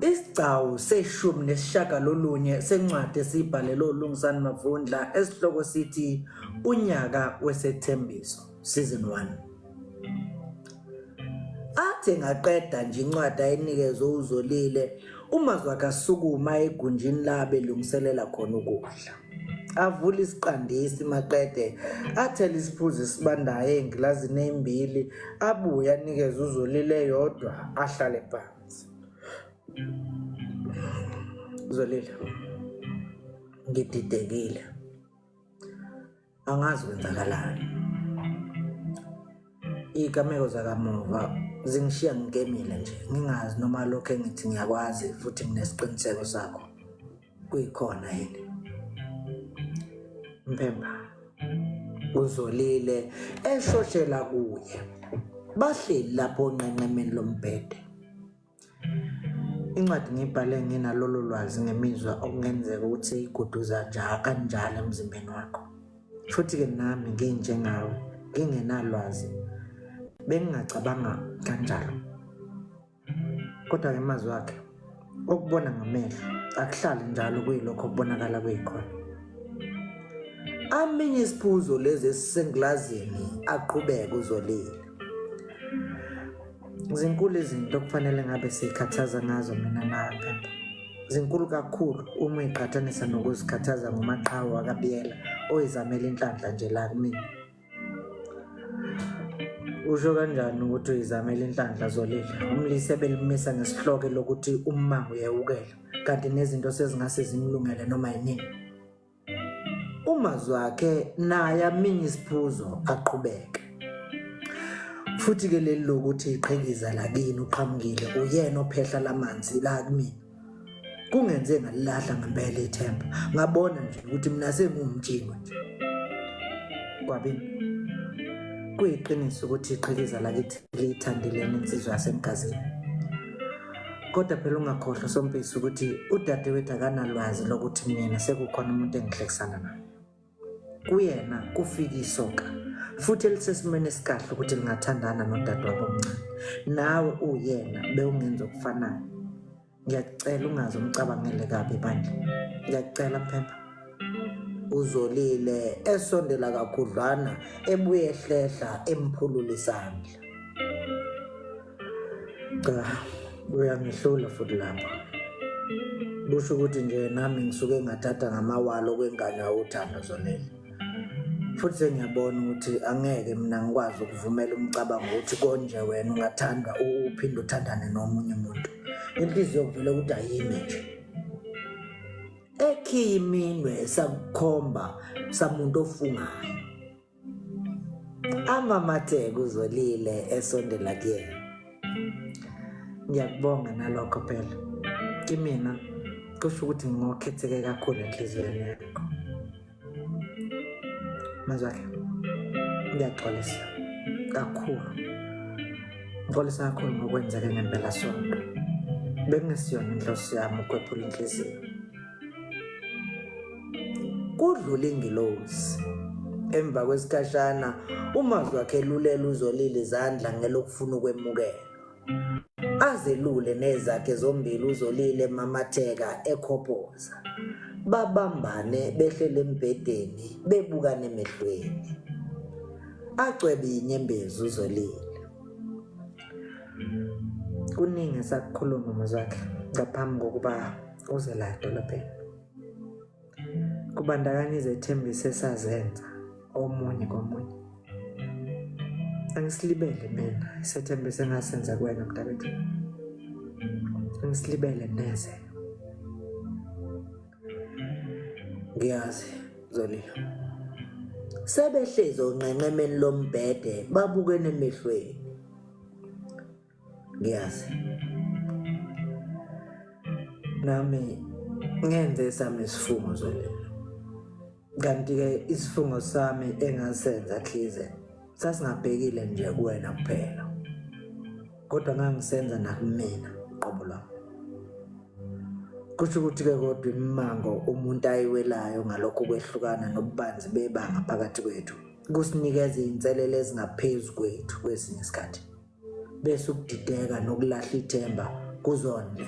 Isigcawu seshumi nesishagalolunye sencwadi esiyibhalelwe uLungisani Mavundla esihloko sithi Unyaka Wesethembiso Season 1. Athe ngaqeda nje incwadi ayinikezwe uZolile, uMazwakhe asukuma egunjini la belungiselela khona ukudla. avule isiqandisi maqede athele isiphuzo esibandayo engilazini eyimbili abuye anikeze uzolile yodwa ahlale phansi zolile ngididekile angazi kwenzakalani iy'gameko zakamuva zingishiya ngigemile nje ngingazi noma lokhu engithi ngiyakwazi futhi nginesiqiniseko sakho kuyikhona yini mpemba uzolile eshoshela kuye bahleli lapho onqenqemeni lombhede Incwadi ngiyibhale nginalolo lwazi ngemizwa okungenzeka ukuthi seyiguduza nja kanjalo emzimbeni wakho. Futhi-ke nami nginjengawe, ngingenalwazi. Bengingacabanga kanjalo. Kodwa-ke amazwi wakhe okubona ngamehlo akuhlali njalo kuyilokho okubonakala kuyikhona. Aminye isiphuzo lezi esisengilazini aqhubeke uzolile. zinkulu izinto okufanele ngabe siyikhathaza ngazo mina naphepha zinkulu kakhulu uma iqhathanisa nokuzikhathaza ngomaqhawe wakabiyela oyizamela inhlanhla nje la kumina usho kanjani ukuthi uyizamela inhlanhla zolile umlise belimisa ngesihloko lokuthi ummango uyewukela kanti nezinto sezingase zimlungele noma yinini umazi wakhe naye aminye isiphuzo aqhubeke futhi ke leli lokuthi iqhikiza lakini uqhamukile uyena ophehla lamanzi la kumina kungenze ngalilahla ngempela ithemba ngabona nje ukuthi mina sengumjingo nje kwabini kuyiqiniso ukuthi iqhikiza lakithi liyithandile insizwa yasemgazini kodwa phela ungakhohlwa sompisi ukuthi udadewethu akanalwazi lokuthi mina sekukhona umuntu engihlekisana naye kuyena kufika isoka futhi elisesimweni esikahle ukuthi lingathandana nodadewabo omncane nawe uyena bewungenza okufanayo ngiyakucela ungaze umcabangele kabi bandla ngiyakucela phepha uzolile esondela kakhudlwana ebuye ehlehla emphulula isandla cha uyangihlula futhi lapho kusho ukuthi nje nami ngisuke ngathatha ngamawalo okwengane uthando zonele futhi sengiyabona ukuthi angeke mina ngikwazi ukuvumela umcabango ukuthi konje wena ungathandwa uphinde uthandane nomunye umuntu inhliziyo kuvele ukuthi ayimi nje ekhiyi iminwe sakukhomba samuntu ofungayo amamathe kuzolile esondela kuyena ngiyakubonga nalokho phela kimina kusho ukuthi ngokhetheke kakhulu enhliziyweni yakho mazwakhe ngiyaxolisa kakhulu ngixolisa kakhulu ngokwenzeke ngempela sonto bekungesiyona inhloso yami ukwephula inhliziyo kudlula ingilozi emva kwesikhashana umazi wakhe elulela uzolile izandla ngelokufuna ukwemukela azelule nezakhe zombili uzolile mamatheka ekhophoza babambane behlele embhedeni bebukane emehlweni acwebe inyembezi uzolile kuningi esakukhuluma mazwakhe ngaphambi kokuba uze la edolobheni kubandakanya izethembiso esazenza omunye komunye angisilibele mina isethembiso engasenza kuwena mntakwethu angisilibele neze ngiyazi zolile sebehlezi onqenqemeni lombhede babukene emehlweni ngiyazi nami ngenze sami isifungo zolelo kanti-ke isifungo sami engasenza khize sasingabhekile nje kuwena kuphela kodwa ngangisenza nakumina qobo lwami kusho ukuthi-ke kodwa imimango umuntu ayiwelayo ngalokho kwehlukana nobubanzi bebanga phakathi kwethu kusinikeza iy'nselelo ezingaphezu kwethu kwesinye isikhathi bese ukudideka nokulahla ithemba kuzona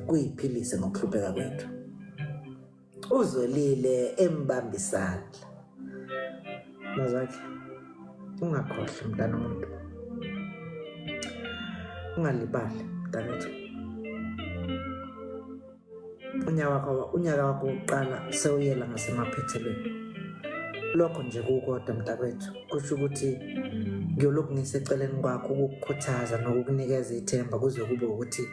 kuyiphilise ngokuhlupheka kwethu uzolile embamba isandla mazakhe ungakhohlwa mntana omuntu ungalibali mntanethu unyaka unyaka wakho wokuqala sewuyela ngasemaphethelweni lokho nje kukodwa mntakwethu kusho ukuthi ngiyolokhu ngiseceleni kwakho ukukukhuthaza nokukunikeza ithemba kuze kube ukuthi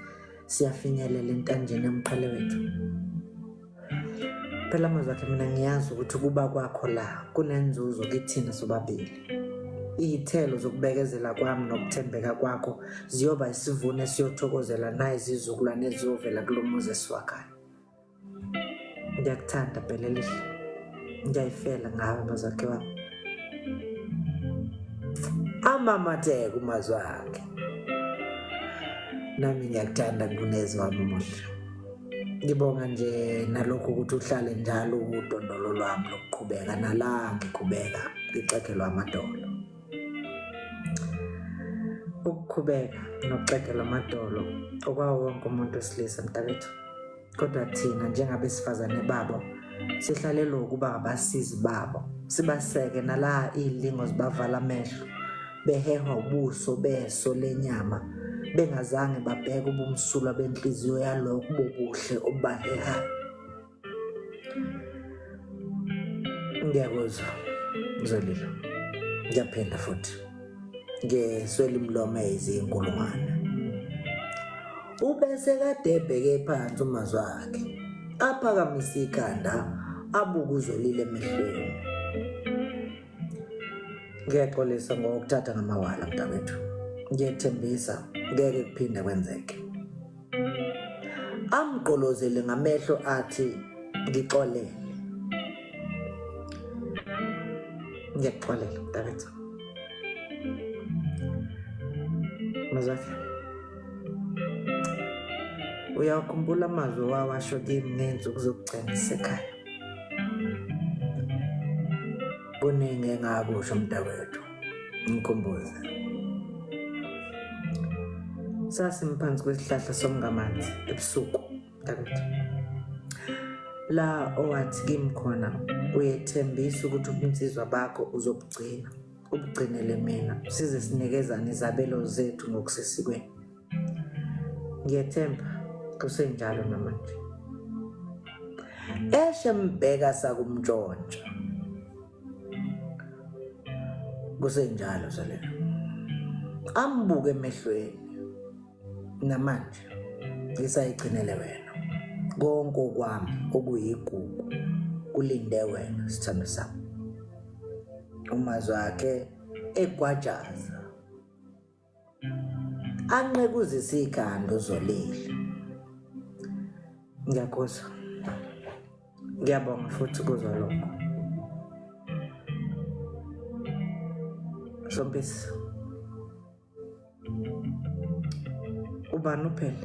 siyafinyelela entanjeni yomqhele wethu phela amazwi akhe mina ngiyazi ukuthi ukuba kwakho la kunenzuzo kithina sobabili Iy'thelo zokubekezela kwami nokuthembeka kwakho ziyoba isivuno esiyothokozela nayizizukulwane eziyovela kulo muzi esiwakhayo. Ngiyakuthanda Bhelelihle, ngiyayifela ngawe mazakhe wami. Amamatheka umazwi akhe. Nami ngiyakuthanda Kunezi wami umuhle. Ngibonga nje nalokhu ukuthi uhlale njalo udondolo lwami lokuqhubeka nala ngiqhubeka ngixegelwa amadolo. Ukuqhubeka nokuxegelwa amadolo okwawo wonke umuntu wesilisa mntakwethu. Kodwa thina njengabesifazane babo sihlalelwa ukuba ngabasizi babo sibaseke nala iy'lingo zibavala amehlo behehwa ubuso beso lenyama bengazange babheke ubumsulwa benhliziyo yalokho bobuhle obubahehayo ngiyakuzwa mzolilo ngiyaphinda futhi ngeswela imlomo eyizinkulungwane ubese kade ebheke phansi umazi wakhe aphakamise ikhanda abuke uzolile emehlweni ngiyaxolisa ngokuthatha ngamawala mntakwethu ngiyethembisa ngeke kuphinde kwenzeke amgqolozele ngamehlo athi ngixolele ngiyakuxolela mntakwethu mazakhe uyawakhumbula amazwi wawasho kimi ngenzuku zokugcina isekhaya kuningi engakusho mntakwethu ngikhumbuze sasimphansi kwesihlahla somngamanzi ebusuku mntakwethu la owathi kimi khona uyethembisa ukuthi ubunsizwa bakho uzobugcina ubugcinele mina size sinikezane izabelo zethu ngokusesikweni ngiyethemba kusenjalo namanje eshe mbheka sakumntshontsha kusenjalo salelo ambuke emehlweni namanje ngisayigcinele wena konke okwami okuyigugu kulinde wena sithando sami umazwi wakhe egwajaza anqekuzise ikhanda uzolile ngiyakuzwa ngiyabonga futhi kuzwa lokho sompisi ubani uphele